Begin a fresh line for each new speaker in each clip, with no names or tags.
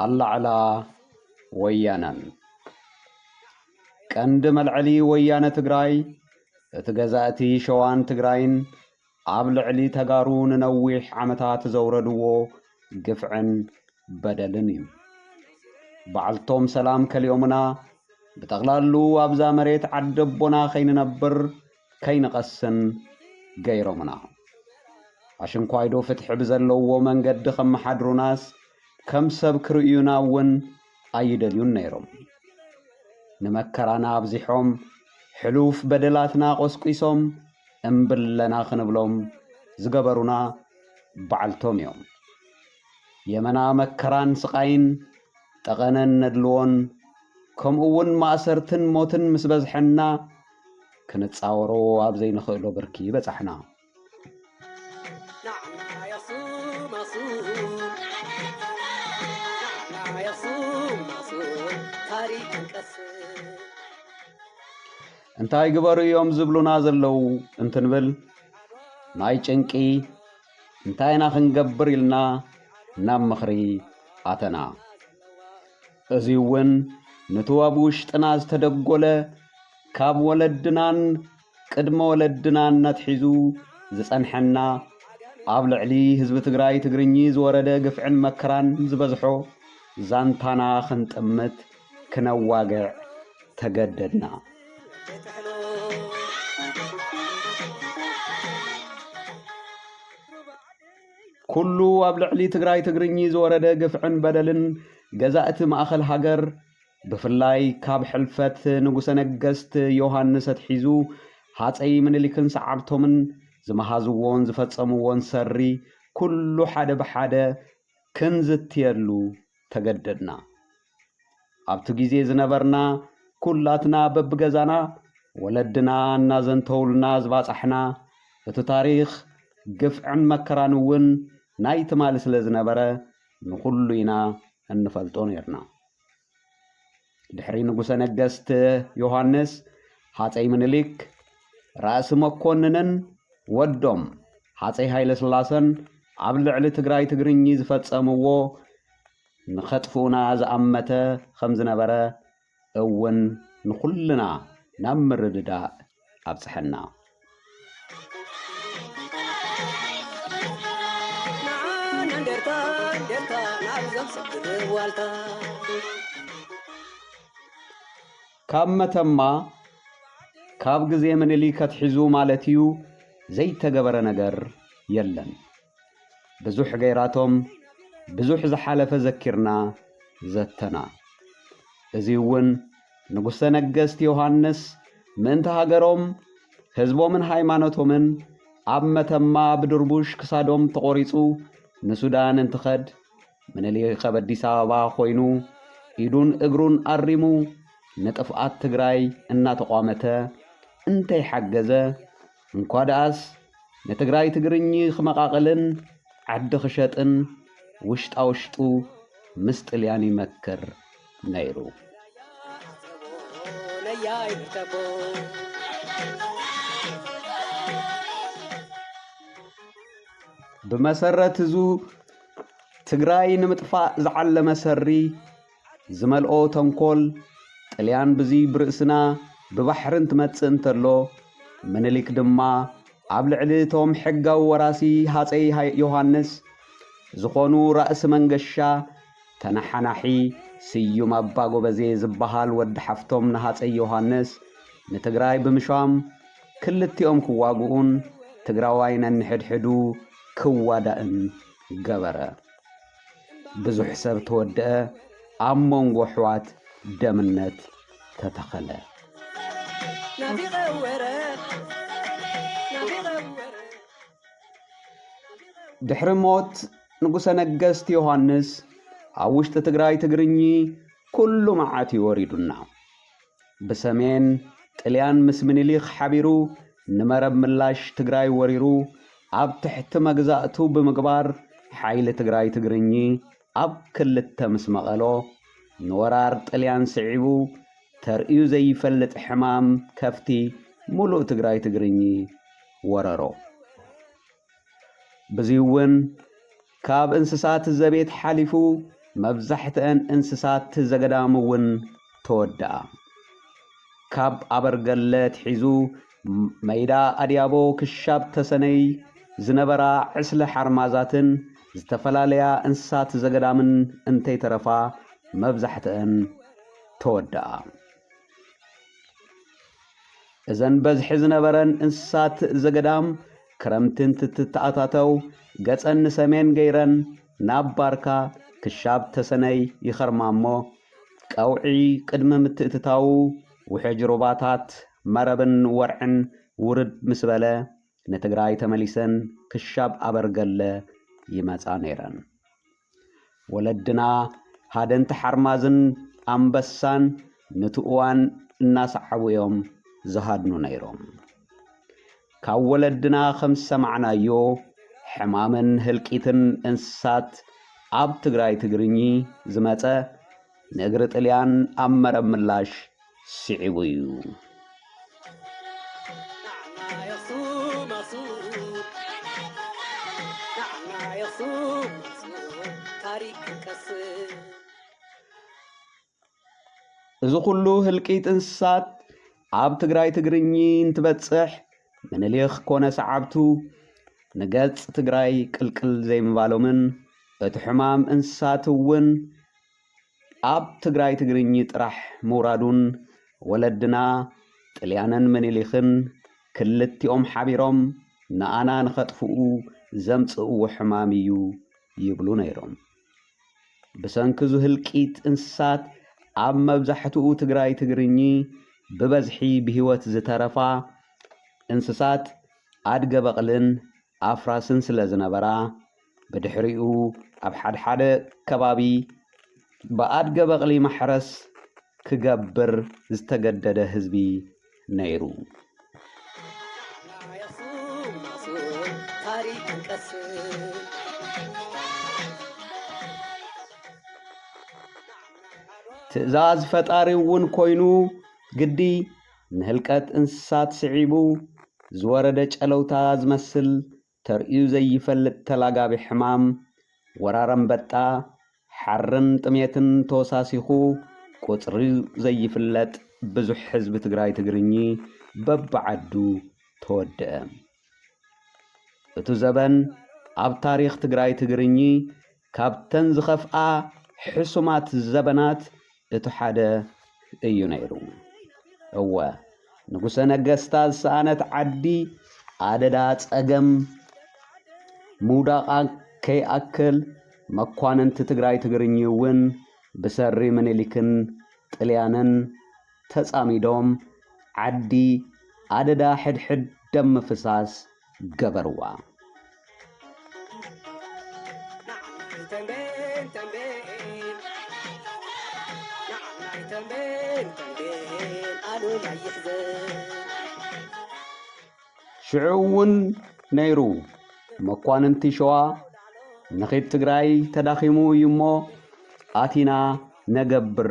ኣላዕላ ወያነን ቀንዲ መልዐሊ ወያነ ትግራይ እቲ ገዛእቲ ሸዋን ትግራይን ኣብ ልዕሊ ተጋሩ ንነዊሕ ዓመታት ዘውረድዎ ግፍዕን በደልን እዩ። ባዕልቶም ሰላም ከሊኦምና ብጠቕላሉ ኣብዛ መሬት ዓደቦና ከይንነብር ከይንቐስን ገይሮምና። ኣሽንኳይዶ ፍትሒ ብዘለዎ መንገዲ ከመሓድሩናስ ከም ሰብ ክርእዩና እውን ኣይደልዩን ነይሮም። ንመከራና ኣብዚሖም፣ ሕሉፍ በደላትና ቆስቂሶም እምብለና ክንብሎም ዝገበሩና ባዕልቶም እዮም። የመና መከራን ስቓይን ጠቐነን ነድልዎን ከምኡ እውን ማእሰርትን ሞትን ምስ በዝሐና ክንጻወሮ ኣብ ዘይንኽእሎ ብርኪ በጻሕና። እንታይ ግበሩ እዮም ዝብሉና ዘለዉ እንትንብል ናይ ጭንቂ እንታይ ኢና ክንገብር ኢልና ናብ ምኽሪ ኣተና። እዚ እውን ንቱ ኣብ ውሽጥና ዝተደጎለ ካብ ወለድናን ቅድመ ወለድናን ነትሒዙ ዝጸንሐና ኣብ ልዕሊ ህዝቢ ትግራይ ትግርኚ ዝወረደ ግፍዕን መከራን ዝበዝሖ ዛንታና ክንጥምት ክነዋግዕ ተገደድና። ኩሉ ኣብ ልዕሊ ትግራይ ትግርኚ ዝወረደ ግፍዕን በደልን ገዛእቲ ማእኸል ሃገር ብፍላይ ካብ ሕልፈት ንጉሰ ነገስት ዮሃንስ ኣትሒዙ ሃፀይ ምኒልክን ሰዓብቶምን ዝመሃዝዎን ዝፈፀምዎን ሰሪ ኩሉ ሓደ ብሓደ ክንዝትየሉ ተገደድና። ኣብቲ ግዜ ዝነበርና ኩላትና በብገዛና ወለድና እናዘንተውልና ዝባጻሕና እቲ ታሪኽ ግፍዕን መከራን እውን ናይ ትማሊ ስለ ዝነበረ ንኹሉ ኢና እንፈልጦ ነርና። ድሕሪ ንጉሰ ነገስት ዮሃንስ ሃፀይ ምኒልክ ራእሲ መኮንንን ወዶም ሃፀይ ሃይለስላሰን ኣብ ልዕሊ ትግራይ ትግርኚ ዝፈፀምዎ ንኸጥፍኡና ዝኣመተ ኸም ዝነበረ እውን ንዅልና ናብ ምርድዳእ ኣብጽሐና። ካብ መተማ ካብ ግዜ ምኒሊክ ኣትሒዙ ማለት እዩ ዘይተገበረ ነገር የለን። ብዙሕ ገይራቶም ብዙሕ ዝሓለፈ ዘኪርና ዘተና። እዚውን ንጉሰ ነገስት ዮሃንስ ምእንቲ ሃገሮም ህዝቦምን ሃይማኖቶምን ኣብ መተማ ብድርቡሽ ክሳዶም ተቖሪጹ ንሱዳን እንትኸድ ምኒልክ ኣብ ኣዲስ ኣበባ ኮይኑ ኢዱን እግሩን ኣሪሙ ንጥፍኣት ትግራይ እናተቋመተ እንተይሓገዘ እንኳ ደኣስ ንትግራይ ትግርኚ ክመቓቕልን ዓዲ ክሸጥን ውሽጣ ውሽጡ ምስ ጥልያን ይመክር ነይሩ። ብመሰረት እዙ ትግራይ ንምጥፋእ ዝዓለመ ሰሪ ዝመልኦ ተንኮል ጥልያን ብዙይ ብርእስና ብባሕርን ትመጽእ እንተሎ ምንሊክ ድማ ኣብ ልዕሊ እቶም ሕጋዊ ወራሲ ሃጸይ ዮሃንስ ዝኾኑ ራእሲ መንገሻ ተነሓናሒ ስዩም ኣባ ጎበዜ ዝበሃል ወዲ ሓፍቶም ንሃጸይ ዮሃንስ ንትግራይ ብምሻም ክልቲኦም ክዋግኡን ትግራዋይ ነንሕድሕዱ ክዋዳእን ገበረ። ብዙሕ ሰብ ተወደኣ ኣብ መንጎ ኣሕዋት ደምነት ተተኸለ። ድሕሪ ሞት ንጉሰ ነገስት ዮሃንስ ኣብ ውሽጢ ትግራይ ትግርኚ ኩሉ መዓት እዩ ወሪዱና። ብሰሜን፣ ጥልያን ምስ ምኒሊክ ሓቢሩ ንመረብ ምላሽ ትግራይ ወሪሩ ኣብ ትሕቲ መግዛእቱ ብምግባር ሓይሊ ትግራይ ትግርኚ ኣብ ክልተ ምስ መቐሎ ንወራር ጥልያን ስዒቡ ተርእዩ ዘይፈልጥ ሕማም ከፍቲ ሙሉእ ትግራይ ትግርኚ ወረሮ። ብዚውን ካብ እንስሳት ዘቤት ሓሊፉ መብዛሕትኣን እንስሳት ዘገዳም እውን ተወድኣ። ካብ ኣበርገለ ኣትሒዙ መይዳ ኣድያቦ ክሻብ ተሰነይ ዝነበራ ዕስለ ሓርማዛትን ዝተፈላለያ እንስሳት ዘገዳምን እንተይተረፋ መብዛሕትኣን ተወድኣ። እዘን በዝሒ ዝነበረን እንስሳት ዘገዳም ክረምቲ እንትትተኣታተው ገፀን ንሰሜን ገይረን ናብ ባርካ ክሻብ ተሰነይ ይኸርማ እሞ ቀውዒ ቅድሚ ምትእትታዉ ውሕጅ ሩባታት መረብን ወርዕን ውርድ ምስ በለ ንትግራይ ተመሊሰን ክሻብ ኣበርገለ ይመፃ ነይረን። ወለድና ሃደንቲ ሓርማዝን ኣንበሳን ኑቲ እዋን እናሰዓቡ እዮም ዝሃድኑ ነይሮም። ካብ ወለድና ከም ዝሰማዕናዮ ሕማምን ህልቂትን እንስሳት ኣብ ትግራይ ትግርኚ ዝመፀ ንእግሪ ጥልያን ኣብ መረብ ምላሽ ስዒቡ እዩ። እዚ ኩሉ ህልቂት እንስሳት ኣብ ትግራይ ትግርኚ እንትበጽሕ ምንሊኽ ኮነ ሰዓብቱ ንገጽ ትግራይ ቅልቅል ዘይምባሎምን እቲ ሕማም እንስሳት እውን ኣብ ትግራይ ትግርኚ ጥራሕ ምውራዱን ወለድና ጥልያንን ምኒሊክን ክልቲኦም ሓቢሮም ንኣና ንኸጥፍኡ ዘምጽእዎ ሕማም እዩ ይብሉ ነይሮም። ብሰንኪ'ዙ ህልቂት እንስሳት ኣብ መብዛሕትኡ ትግራይ ትግርኚ ብበዝሒ ብህይወት ዝተረፋ እንስሳት ኣድገ በቕልን ኣፍራስን ስለ ዝነበራ፣ ብድሕሪኡ ኣብ ሓድሓደ ከባቢ ብኣድገ በቕሊ ማሕረስ ክገብር ዝተገደደ ህዝቢ ነይሩ። ትእዛዝ ፈጣሪ'ውን ኮይኑ ግዲ ንህልቀት እንስሳት ስዒቡ ዝወረደ ጨለውታ ዝመስል ተርእዩ ዘይፈልጥ ተላጋቢ ሕማም ወራር ኣንበጣ፣ ሓርን ጥሜትን ተወሳሲኹ ቁጽሩ ዘይፍለጥ ብዙሕ ህዝቢ ትግራይ ትግርኚ በብዓዱ ተወድእ። እቱ ዘበን ኣብ ታሪኽ ትግራይ ትግርኚ ካብተን ዝኸፍኣ ሕሱማት ዘበናት እቲ ሓደ እዩ ነይሩ። እወ ንጉሰ ነገስታ ዝሰኣነት ዓዲ ኣደዳ ጸገም ምውዳቓ ከይኣክል መኳንንቲ ትግራይ ትግርኚ እውን ብሰሪ ምኒልክን ጥልያንን ተጻሚዶም ዓዲ ኣደዳ ሕድሕድ ደም ምፍሳስ ገበርዋ። ሽዑ እውን ነይሩ መኳንንቲ ሸዋ ንኺድ ትግራይ ተዳኺሙ እዩ እሞ ኣቲና ነገብር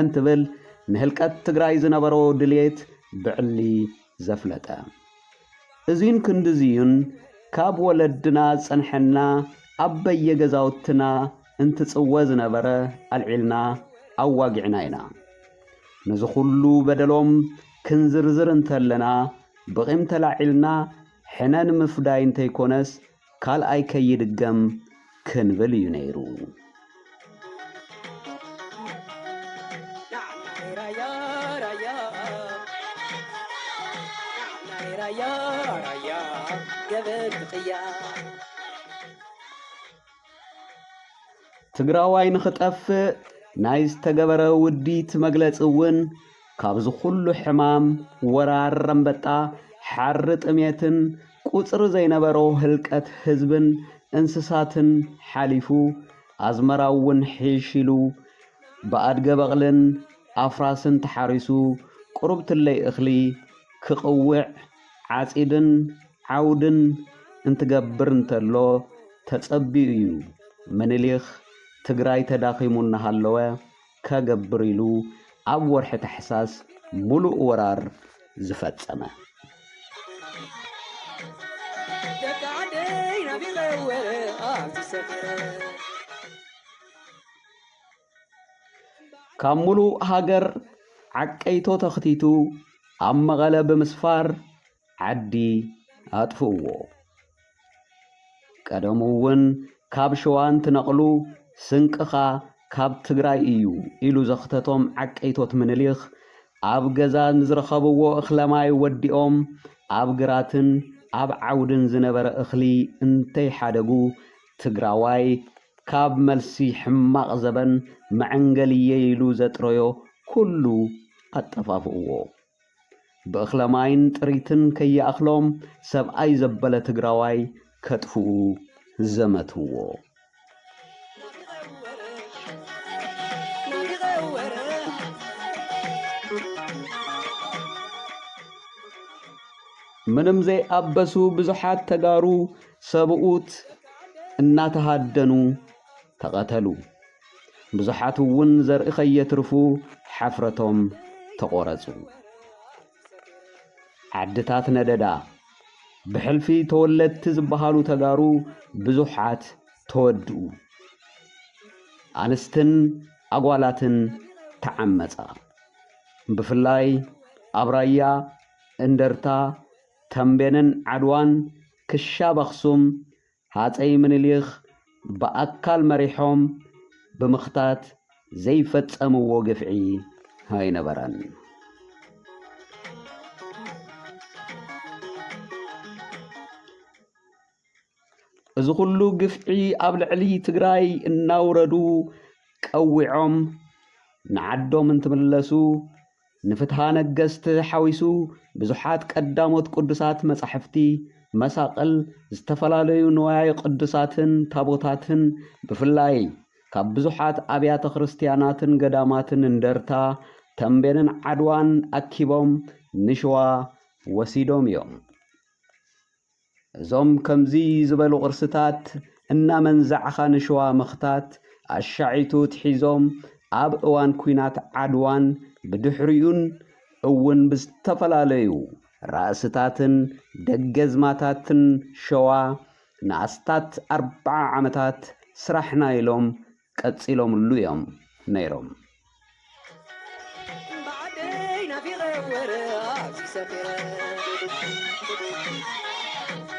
እንትብል ንህልቀት ትግራይ ዝነበሮ ድልየት ብዕሊ ዘፍለጠ እዙይን ክንድዙይን ካብ ወለድና ዝፀንሐና ኣብ በየገዛውትና እንትፅወ ዝነበረ ኣልዒልና ኣዋጊዕና ኢና። ነዚ ኩሉ በደሎም ክንዝርዝር እንተለና ብቂም ተላዒልና ሕነ ንምፍዳይ እንተይኮነስ ካልኣይ ከይድገም ክንብል እዩ ነይሩ። ትግራዋይ ንኽጠፍእ ናይ ዝተገበረ ውዲት መግለፂ እውን ካብዚ ኩሉ ሕማም ወራር ረምበጣ፣ ሓሪ ጥሜትን ቁጽሪ ዘይነበሮ ህልቀት ህዝብን እንስሳትን ሓሊፉ፣ ኣዝመራው ውን ሒሽ ኢሉ ብኣድገ በቕልን ኣፍራስን ተሓሪሱ ቁሩብ ትለይ እኽሊ ክቕውዕ ዓጺድን ዓውድን እንትገብር እንተሎ ተጸብዩ እዩ ምኒሊኽ ትግራይ ተዳኺሙ እናሃለወ ከገብር ኢሉ ኣብ ወርሒ ታሕሳስ ሙሉእ ወራር ዝፈፀመ። ካብ ሙሉእ ሃገር ዓቀይቶ ተኽቲቱ ኣብ መቐለ ብምስፋር ዓዲ ኣጥፍእዎ። ቀደሙ እውን ካብ ሸዋ እንትነቕሉ ስንቅኻ ካብ ትግራይ እዩ ኢሉ ዘኽተቶም ዓቀይቶት ምንሊኽ ኣብ ገዛ ንዝረኸብዎ እኽለማይ ወዲኦም ኣብ ግራትን ኣብ ዓውድን ዝነበረ እኽሊ እንተይሓደጉ ትግራዋይ ካብ መልሲ ሕማቕ ዘበን መዐንገሊየይ ኢሉ ዘጥረዮ ኩሉ ኣጠፋፍእዎ። ብእኽለ ማይን ጥሪትን ከይኣኽሎም ሰብኣይ ዘበለ ትግራዋይ ከጥፍኡ ዘመትዎ። ምንም ዘይኣበሱ ብዙሓት ተጋሩ ሰብኡት እናተሃደኑ ተቐተሉ። ብዙሓት እውን ዘርኢ ከየትርፉ ሓፍረቶም ተቖረጹ። ዓድታት ነደዳ። ብሕልፊ ተወለድቲ ዝበሃሉ ተጋሩ ብዙሓት ተወድኡ። ኣንስትን ኣጓላትን ተዓመጻ። ብፍላይ ኣብ ራያ፣ እንደርታ፣ ተምቤንን ዓድዋን ክሻብ ኣኽሱም ሃጸይ ምንሊክ ብኣካል መሪሖም ብምኽታት ዘይፈጸምዎ ግፍዒ ኣይነበረን። እዚ ኩሉ ግፍዒ ኣብ ልዕሊ ትግራይ እናውረዱ ቀዊዖም ንዓዶም እንትምለሱ ንፍትሃ ነገስት ሓዊሱ ብዙሓት ቀዳሞት ቅዱሳት መጻሕፍቲ፣ መሳቕል፣ ዝተፈላለዩ ንዋየ ቅዱሳትን ታቦታትን ብፍላይ ካብ ብዙሓት ኣብያተ ክርስትያናትን ገዳማትን እንደርታ፣ ተምቤንን ዓድዋን ኣኪቦም ንሽዋ ወሲዶም እዮም። እዞም ከምዚ ዝበሉ ቅርስታት እናመንዛዕኻ ንሽዋ ምኽታት ኣሻዒቱ ኣትሒዞም ኣብ እዋን ኲናት ዓድዋን ብድሕሪኡን እውን ብዝተፈላለዩ ራእስታትን ደገዝማታትን ሸዋ ንኣስታት ኣርብዓ ዓመታት ስራሕና ኢሎም ቀጺሎምሉ እዮም ነይሮም።